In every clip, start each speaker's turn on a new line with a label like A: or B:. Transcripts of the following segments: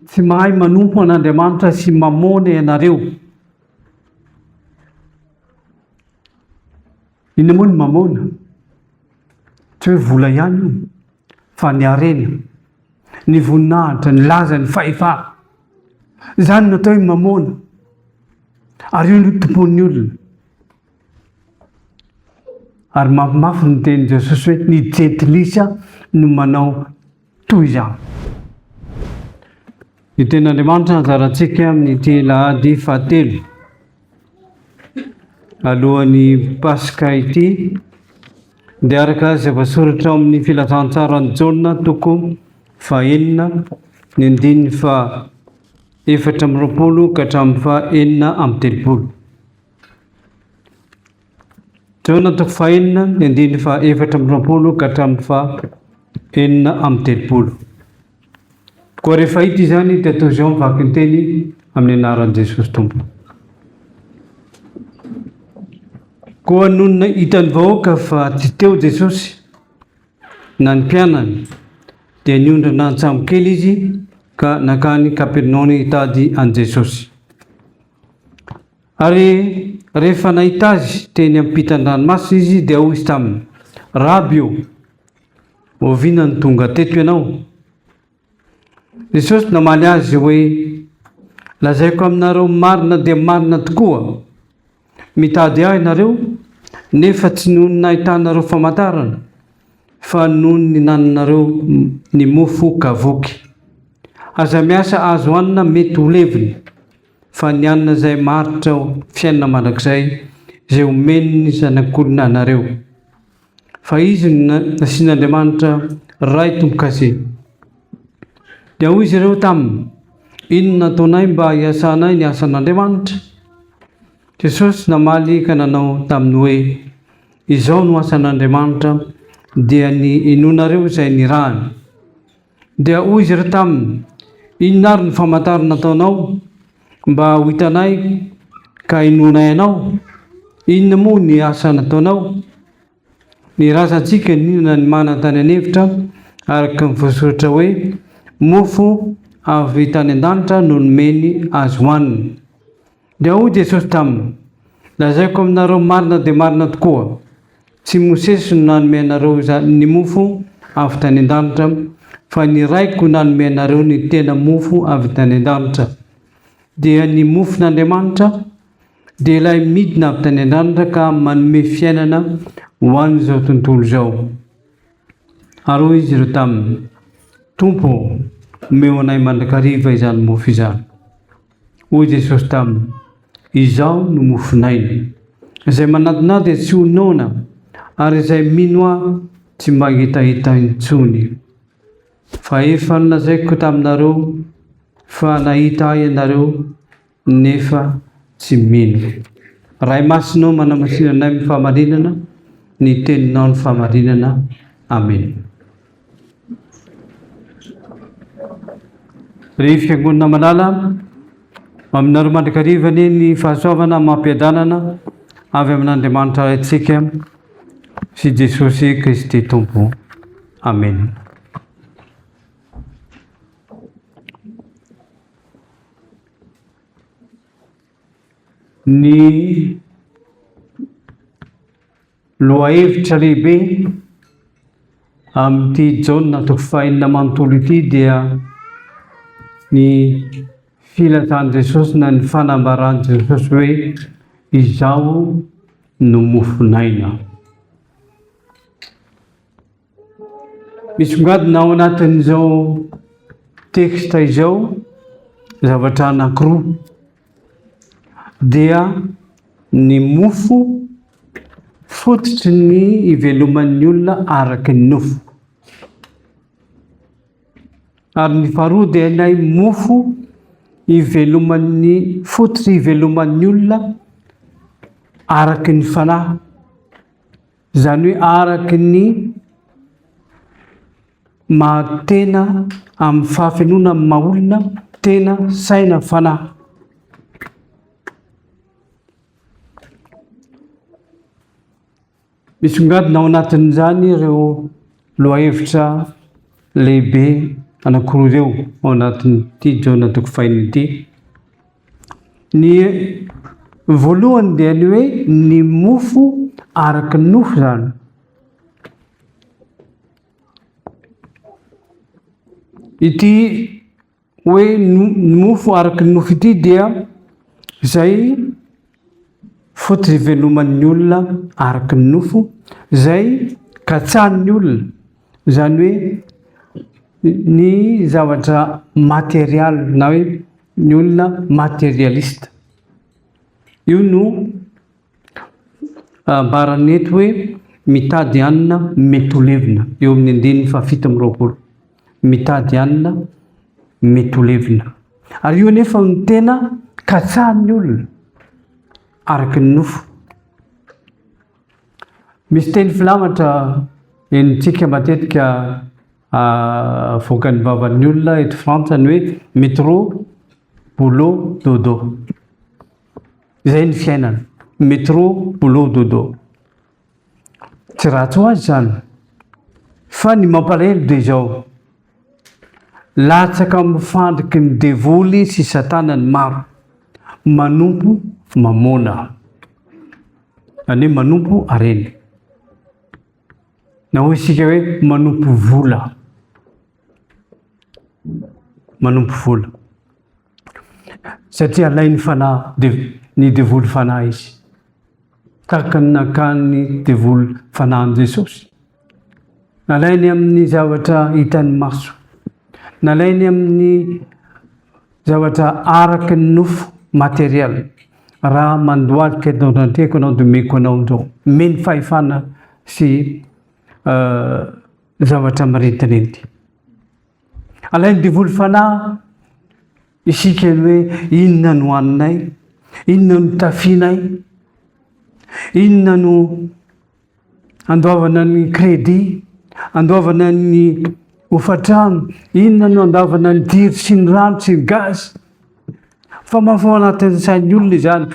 A: Tsy mahay manompo an'Andriamanitra sy Mamôna ianareo. Inona moa ny Mamôna? Tsy hoe vola ihany io, fa ny harena, ny voninahitra, ny laza, ny fahefana. Izany natao hoe Mamôna. Ary io no tompon'ny olona. Ary mafimafy ny tenin'i Jesosy hoe ny jentilisa no manao toy izany. Ny tenin'Andriamanitra hanzarantsika amin'ity lahady fahatelo alohan'ny Paska ity dia araka izay voasoratra ao amin'ny filazantsaran'i Jaona toko fahenina ny andininy fa efatra amby roapolo ka hatramin'ny fa enina amby telopolo. Joana toko fahenina ny andininy faha efatra amby roapolo ka hatramin'ny faha enina amby telopolo. Koa rehefa hita izany dia tohizo amin'ny vaky ny teny amin'ny anaran'i Jesosy Tompo. Koa nonina hitan'ny vahoaka fa tsy teo Jesosy na ny mpianany dia niondrana an-tsambo kely izy ka nakany Kapernaony hitady an'i Jesosy. Ary rehefa nahita Azy teny am-pitan-dranomasina izy, dia hoy Izy taminy, Raby ô, oviana no tonga teto Ianao? Jesosy namaly azy hoe, Lazaiko aminareo marina dia marina tokoa, mitady Ahy nareo, nefa tsy noho ny nahitanareo famantarana, fa noho ny nananareo ny mofo ka voky. Aza miasa azo hanina mety ho levona. Fa ny anona izay maritra ao fiainana mandrakizay izay omen'ny Zanak'olona anareo. Fa izy no nasian'Andriamanitra Ray tombo-kase. Dia hoy izy ireo taminy, Inona no ataonay mba hiasanay ny asan'Andriamanitra? Jesosy namaly ka nanao taminy hoe, Izao no asan'Andriamanitra, dia ny inoanareo izay nirahany. Dia hoy izy ireo taminy, Inona ary ny famantarana ataonao mba ho hitanay ka hinoanay anao? Inona moa ny asa nataonao? Ny razantsika nihinana ny mana tany an'efitra, araka ny voasoratra hoe, Mofo avy tany an-danitra no nomeny azy hohanina. Dia hoy Jesosy taminy, Lazaiko aminareo marina dia marina tokoa, tsy i Mosesy no nanome anareo izany ny mofo avy tany an-danitra, fa ny Raiko no nanome anareo ny tena mofo avy tany an-danitra. Dia ny mofon'Andriamanitra dia ilay midina avy tany an-danitra ka manome fiainana ho an'izao tontolo izao. Ary hoy izy ireo taminy, Tompo, omeo anay mandrakariva izany mofo izany. Hoy Jesosy taminy, Izaho no mofon'aina. Izay manadina dia tsy ho noana, ary izay mino ahy tsy mba hihitahita intsony. Fa efa nolazaiko taminareo fa nahita ahy ianareo nefa tsy mino. Ray Masinao manamasinanay amin'ny fahamarinana, ny teninao ny fahamarinana. Amena. Ry fiangonana malala, aminareo mandrakariva anie ny fahasoavana amam-piadanana avy amin'Andriamanitra Raintsika sy Jesosy Kristy Tompo. Amena. Ny Lohahevitra lehibe amin'ity Jaona toko fahenina manontolo ity dia ny filatan'i Jesosy na ny fanambaran'i Jesosy hoe izaho no mofon'aina. Misongadina ao anatin'izao texte izao zavatra anankiroa dia ny mofo fototry ny iveloman'ny olona araky ny nofo ary ny faharoa dia ilay mofo iveloman'ny fototry iveloman'ny olona araky ny fanahy Izany hoe araka ny maha-tena amin'ny fahafenoana amin'ny maha-olona, tena, saina, fanahy. Misongadina ao anatin'izany ireo lohahevitra lehibe anankiroa ireo ao anatin'ity jaona toko fahiny ity. Ny voalohany dia ny hoe ny mofo araka ny nofo izany. Ity hoe ny mofo araka ny nofo ity dia izay fotoiveloman'ny olona araka ny nofo izay katsahan'ny olona, izany hoe ny zavatra material na hoe ny olona materialiste. Io no ambarany eto hoe mitady hanina mety ho levona eo amin'ny andininy fahafito amby roapolo. Mitady alina, mety ho levona. Ary io anefa no tena katsahan'ny olona, araka ny nofo. Misy teny filamatra henontsika matetika ah, voakan'ny vavan'ny olona eto Frantsa ny hoe métro, boulot, dodo. Izay ny fiainana, métro, boulot, dodo. Tsy ratsy ho azy izany. Fa ny mampalahelo dia izao, latsaka amin'ny fandriky ny devoly sy satana ny maro, manompo mamôna, izany hoe manompo harena, na hoy isika hoe manompo vola, manompo vola. satria alainy fanahy dev, ny devoly fanahy izy tahaka ny nakan'ny devoly fanahy amin'i Jesosy nalainy amin'ny zavatra hitan'ny maso nalainy amin'ny zavatra araka ny nofo matériel raha mandohalika eto antreko anao dia meko anao indreo meny fahefana sy euh, zavatra marintirinty Alain'ny devoly fanahy isika ny hoe inona no haninay, inona no tafinay, inona no andoavana ny kredi, andoavana ny hofantrano, inona no andoavana ny jiro sy ny rano sy ny gaz. Fa mafao anatin'ny sain'ny olona izany.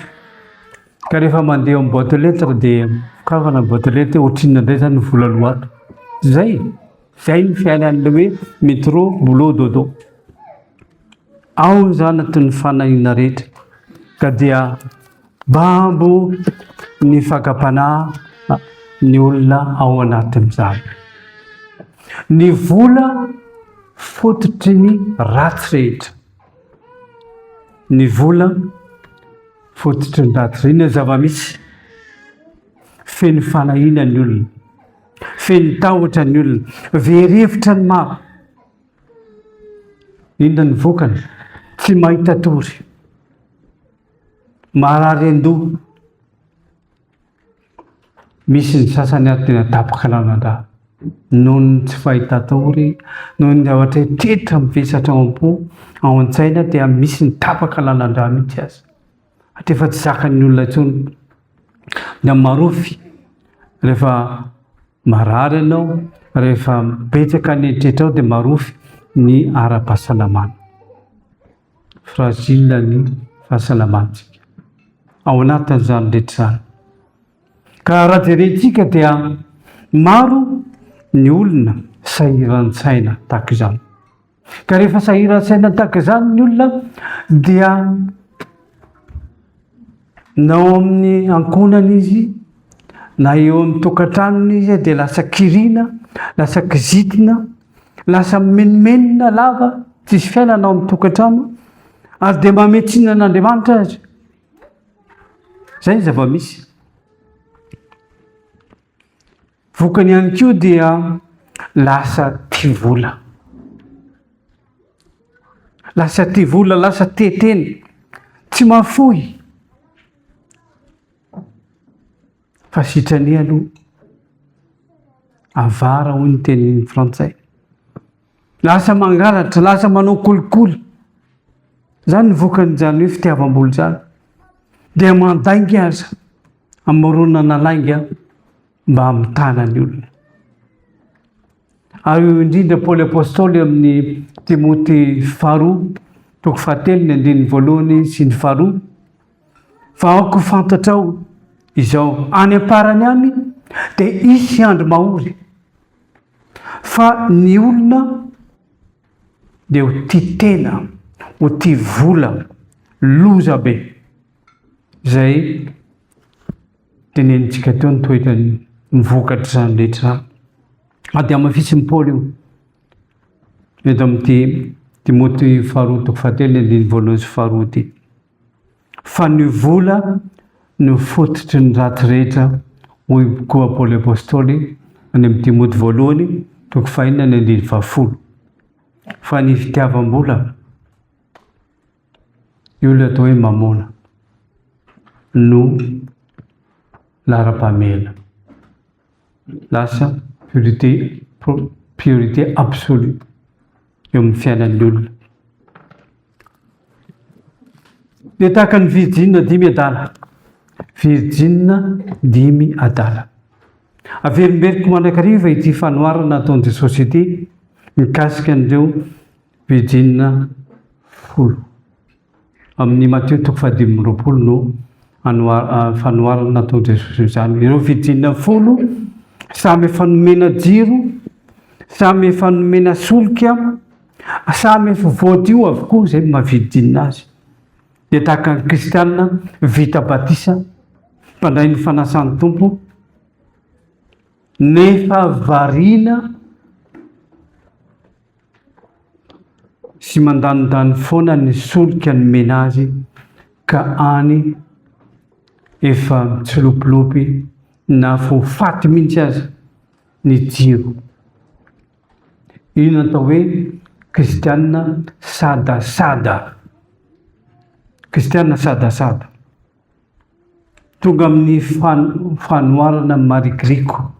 A: Ka rehefa mandeha amin'ny boîte lettre dia kavana boîte lettre hoe ohatrinona indray izany ny vola loato. Zay. Izay ny fiainan'ilay hoe métro boulot dodo. Ao izy anatin'ny fanahiana rehetra ka dia bambo ny fakam-panahy ny olona ao anatin'izany. Ny vola fototry ny ratsy rehetra. Ny vola fototry ny ratsy. Inona ny zava-misy? Feno fanahiana ny olona. Feno tahotra ny olona, very hevitra ny maro. Inona ny vokany? Tsy mahita tory, marary an-doha. Misy ny sasany ary tena tapaka lalandra noho ny tsy fahita tory, noho ny zavatra tetra mivesatra ao am-po, ao an-tsaina dia misy ny tapaka lalandra mihitsy aza. Hatreto efa tsy zakan'ny olona intsony ny amin'ny marofy rehefa marary ianao, rehefa betsaka ny eritretrao dia marofy ny ara-pahasalamana. Fragile ny fahasalamantsika. Ao anatin'izany rehetra izany. Ka raha jerentsika dia maro ny olona sahiran-tsaina tahaka izany. Ka rehefa sahiran-tsaina tahaka izany ny olona dia na ao amin'ny ankohonana izy na eo amin'ny tokantranony izy dia lasa kirina, lasa kizitina, lasa mimenomenona lava, tsisy fiainana ao amin'ny tokantrano ary dia mametsinina an'Andriamanitra azy. Izay ny zava-misy. Vokany ihany koa dia lasa tia vola. Lasa tia vola, lasa tia tena, tsy mafoy. Fa sitrany aloha, avara hoy ny tenin'ny frantsay. Lasa mangalatra, lasa manao kolikoly. Zany ny vokan'izany hoe fitiavam-bola zany. Dia mandainga aza. Amoronana lainga mba hamitana ny olona. Ary io indrindra Paoly Apôstôly amin'ny Timoty faharoa, toko fahatelo ny andininy voalohany sy ny faharoa, fa aoka ho fantatrao izao any am-parany any dia hisy andro mahory fa ny olona dia ho tia tena, ho tia vola, loza be. Izay tenenintsika teo ny toetrany mivokatr'izany rehetra izany. Na dia hamafisin'i Paoly io eto amin'ity Timoty faharoa toko fahatelo ny andininy voalohany sy faharoa ity. Fa ny vola no fototry ny ratsy rehetra, hoy koa Paoly Apôstôly any amin'ny Timoty voalohany toko fahenina ny andininy fahafolo. Fa ny fitiavam-bola Io ilay atao hoe Mamona no laharam-pahamehana. Lasa priorité, priorité absolue eo amin'ny fiainan'ny olona. Dia tahaka ny virjina dimy adala. Virjina dimy adala. Averimberiko mandrakariva ity fanoharana ataon'ny Jesosy ity mikasika an'ireo Pejin. Folo. Amin' i Matio toko fahadimy amby roapolo no anoar-, fanoharana nataon' i Jesosy izany. Ireo Pejin. Folo samy efa nomena jiro, samy efa nomena solika, samy efa voadio avokoa izay mavidin' azy. Dia tahaka ny kristiana vita batisa, mpandray ny fanasan' ny Tompo, nefa variana, sy mandanindany foana ny solika nomena azy ka any efa mitsilopilopy na fo faty mihitsy aza ny jiro. Io no atao hoe kristianina sadasada. Kristianina sadasada. Tonga amin'ny fanoharana ny marigriko,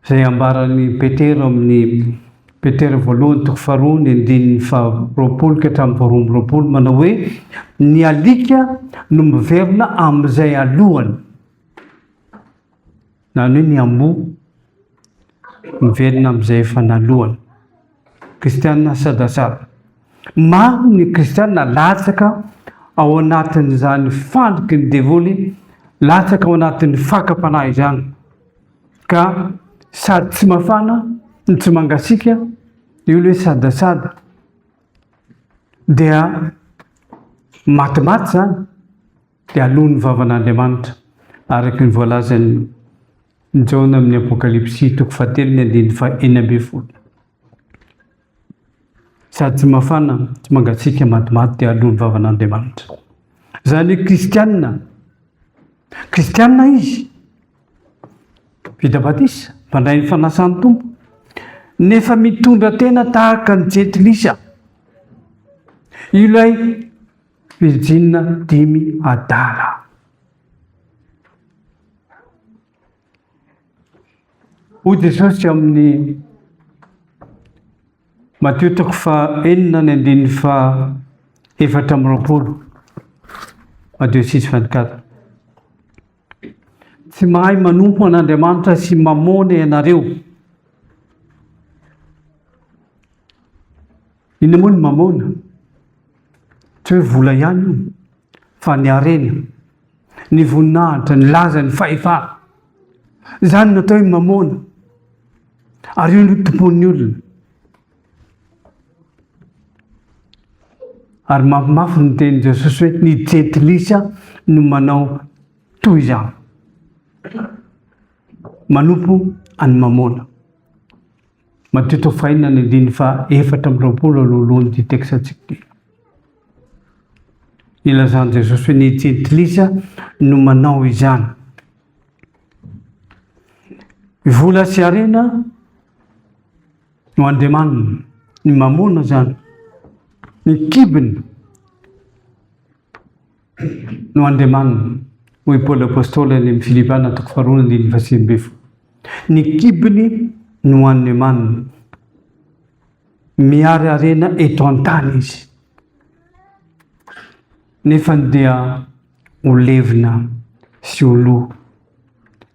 A: izay ambaran'i Petera amin'ny Petera voalohany toko faharoa ny andininy faharoapolo ka hatramin'ny faharoa amby roapolo manao hoe ny alika no miverina amin'izay alohany. Izany hoe ny amboa miverina amin'izay efa naloany. Kristianina sadasada. Maro ny kristianina latsaka ao anatin'izany fandriky ny devoly, latsaka ao anatin'ny fakam-panahy izany. Ka sady tsy mafana, no tsy mangasiaka, io ilay sadasada. Dia matimaty izany. dia aloa ny vavan'Andriamanitra, araka ny voalazan'i Jaona amin'ny Apokalypsy toko fahatelo ny andininy fahenina ambin'ny folo. Sady tsy mafana, tsy mangatsiaka, matimaty dia aloa ny vavan'Andriamanitra. Izany hoe kristianina, kristianina izy, vita batisa, mpandray ny fanasan'ny tompo, nefa mitondra tena tahaka ny jentilisa. Ilay Virjina dimy adala. Hoy Jesosy amin'ny Matio toko faha enina ny andininy faha efatra amby roapolo. Matio six vingt quatre. Tsy mahay manompo an'Andriamanitra sy mamôna ianareo. Inona moa ny mamôna? Tsy hoe vola ihany io, fa ny harena, ny voninahitra, ny laza, ny fahefana. Izany natao hoe mamôna. Ary io no tompon'ny olona. Ary mafimafy ny tenin'i Jesosy hoe ny jentilisa no manao toy izany. Manompo an'ny mamôna. Madio tofaina ny andininy faha efatra amby roapolo alohalohan'ity teksantsika ity. Ilazan'i Jesosy hoe ny jentilisa no manao izany. Vola sy harena no andriamaniny, ny mamona izany, ny kibony. no Andriamaniny, hoy Paoly Apostoly any amin'ny Filipana toko faharoa andininy fahasivy ambin'ny folo. Ny kibony no Andriamaniny. Miariariana eto an-tany izy. Nefa dia ho levona sy ho lo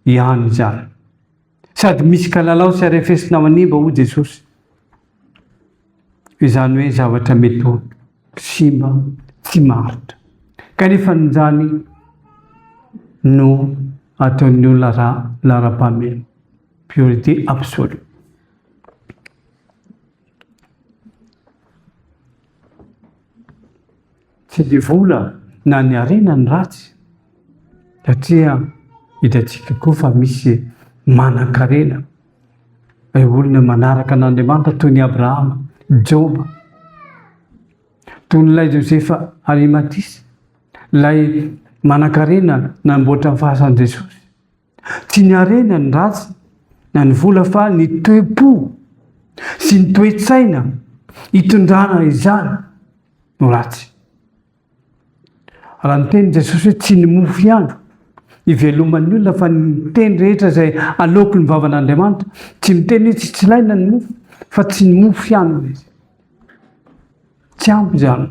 A: ihany izany. Sady misy kalalao sy arefesina ao an'imba hoy Jesosy. Izany hoe zavatra mety ho simba, tsy maharitra. Kanefa ninjany no ataon'ny olona ra laharam-pahamehana. Priorité absolue. Tsy dia vola na ny harena ny ratsy satria hitantsika koa fa misy manan-karena, eh, olona manaraka an'Andriamanitra toy ny Abrahama, Joba, toy n'ilay Josefa Arimatisa, ilay manan-karena namboatra ny fahasan'i Jesosy. Tsy ny harena ny ratsy na ny vola fa ny toe-po sy ny toe-tsaina itondrana izany no ratsy. Raha niteny Jesosy hoe tsy ny mofo ihany iveloman'ny olona fa ny teny rehetra izay aloaky ny vavan'Andriamanitra, tsy miteny hoe tsy tsilaina ny mofo fa tsy ny mofo ihany izy. Tsy ampy izany.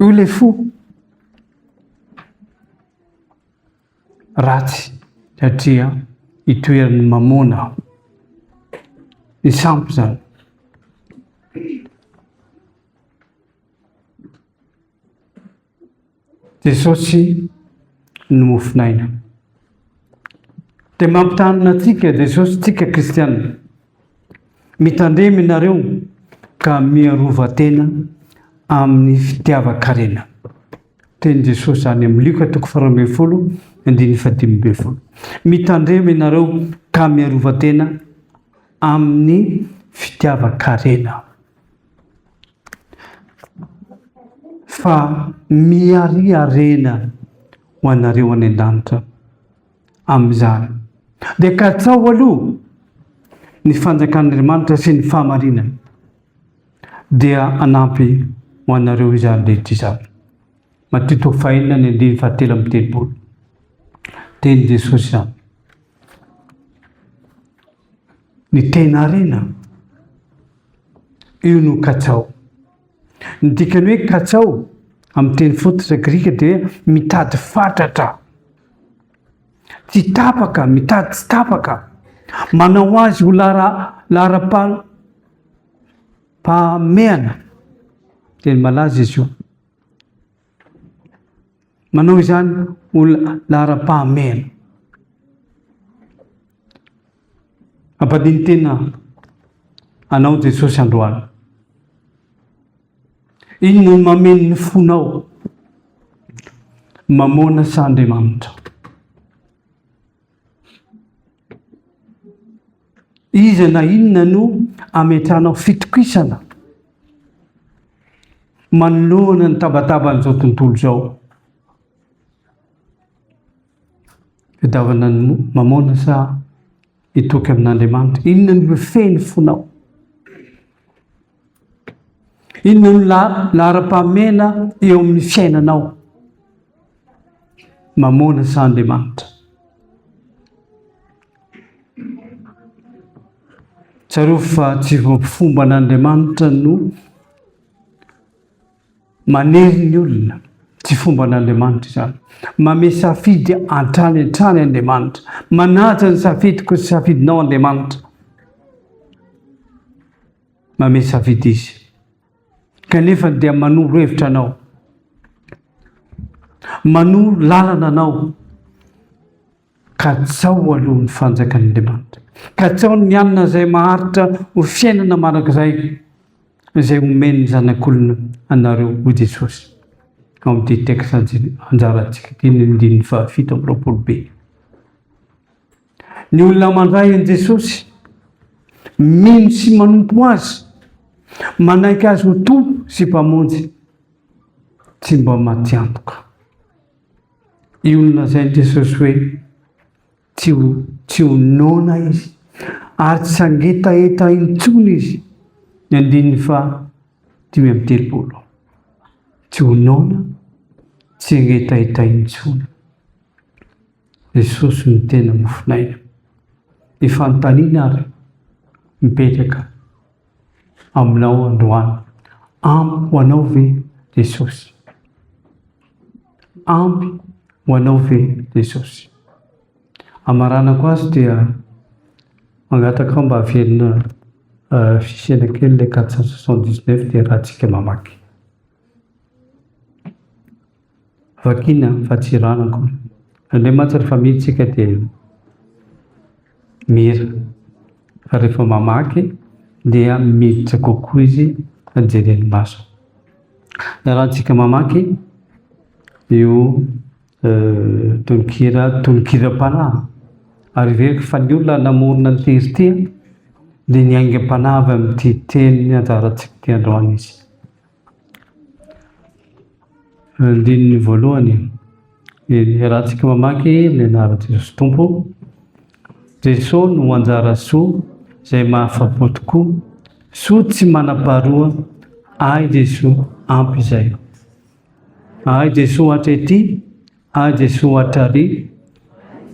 A: Io le fo ratsy satria itoeran'ny mamona ny sampy zany. Jesosy no mofon'aina. Dia mampitanina antsika Jesosy tsika kristianina. Mitandrema ianareo ka miarova tena amin'ny fitiavan-karena. Tenin'i Jesosy any amin'ny Lioka toko faharoa ambin'ny folo, andininy fahadimy ambin'ny folo. Mitandrema ianareo ka miarova tena amin'ny fitiavan-karena. Fa miariarena ho anareo any an-danitra. Amin'izany, dia katsaho aloha ny fanjakan'Andriamanitra sy ny fahamarinany, dia hanampy ho anareo izany rehetra izany. Matio toko fahenina ny andininy fahatelo amby telopolo. Teny Jesosy izany. Ny tena arena, io no katsaho. Ny dikan'ny hoe katsao amin'ny teny fototra grika dia mitady fatratra. Tsy tapaka, mitady tsy tapaka. Manao azy ho lara laharam-pahamehana. Teny malaza izy io. Manao izany ho laharam-pahamehana. Ampadiny tena anao Jesosy androany. Iny no mameno ny fonao. Mamona sa Andriamanitra? Iza na inona no ametrahanao fitokisana manoloana ny tabataban'izao tontolo izao? Fidavana ny mamona sa hitoky amin'Andriamanitra? Inona no mifehy ny fonao? Inona no laharam-pahamehana eo amin'ny fiainanao? Mamôna sa Andriamanitra? Tsarovy fa tsy fomba an'Andriamanitra no manery ny olona, tsy fomba an'Andriamanitra izany. Mame safidy hatrany hatrany Andriamanitra. Manaja ny safidiko sy safidinao Andriamanitra. mamehy safidy izy, kanefa dia manoro hevitra anao, manoro lalana anao, ka tsao aloha ny fanjakan'Andriamanitra, ka tsao ny hanina izay maharitra ho fiainana mandrakizay, izay omen'ny zanak'olona anareo ho Jesosy. Ao amin'ity texte anjarantsika ity ny andininy fahafito amby roapolo be. Ny olona mandray an'i Jesosy, mino sy manompo azy, manaiky azy ho Tompo sy Mpamonjy, tsy mba matiantoka. Io no lazain'i Jesosy hoe tsy ho tsy ho noana izy ary tsy sangetaheta intsony izy ny andininy fa dimy amby telopolo. Tsy ho noana, tsy hangetaheta intsony. Jesosy no tena mofon'aina. Ny fanontaniana ary mipetraka aminao androany, ampy ho anao ve Jesosy? Ampy ho anao ve Jesosy? Amaranako azy dia mangataka mba averina euh, fisiana kely ilay 479 dia raha tsika mamaky. Vakina fa tsy rano akory. Zany hoe mantsy rehefa mino tsika dia mira. Fa rehefa mamaky dia miditra kokoa izy fa jeren'ny maso. Ny arahantsika mamaky io tononkira tononkiram-panahy. Ary heveriko fa ny olona namorona ny tery ity dia ny aingam-panahy avy amin'ity teny anjarantsika ity androany izy. Andininy voalohany, Iarahantsika mamaky ny anaran'i Jesosy Tompo. Jesosy no anjara soa izay mahafapo tokoa. Soa tsy manam-paharoa ahy Jesosy ampy izay. Ahy Jesosy hatretia, ahy Jesosy hatrariana,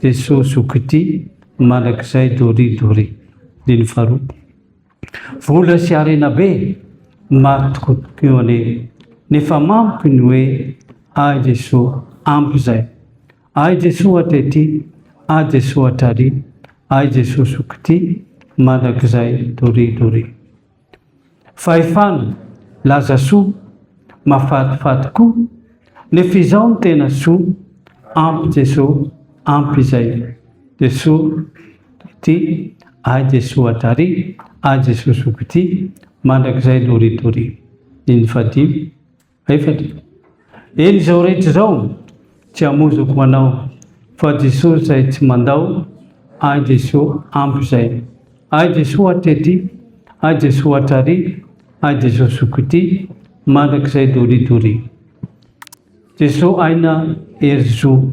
A: Jesosy zoky tia, mandrakizay doria doria. Andininy faharoa. Vola sy harena be no maro tokoa tokoa eo anie nefa mamiko ny hoe ahy Jesoa ampy izay. Ahy Jesoa hatretrỳ, ahy Jesoa hatrarỳ, ahy Jesoa zokitỳ, mandrakizay doria doria. Fahefana, laza soa, mafatifaty koa, nefa izao no tena soa, ampy Jesoa, ampy izay. Jesoa. Ty, Ay Jesoa Adary, Ay Jesoa Zoky Ty, Mandrakizay Dory Dory. Dimy fahadimy, efatra. Eny izao rehetra izao, tsy hamozoko ho anao, fa Jesoa izay tsy mandao, Ay Jesoa ampy izay. Ay Jesoa Atre Ty, Ay Jesoa Atrary, Ay Jesoa Zoky Ty, Mandrakizay Dory Dory. Jesoa Aina Hery Zo.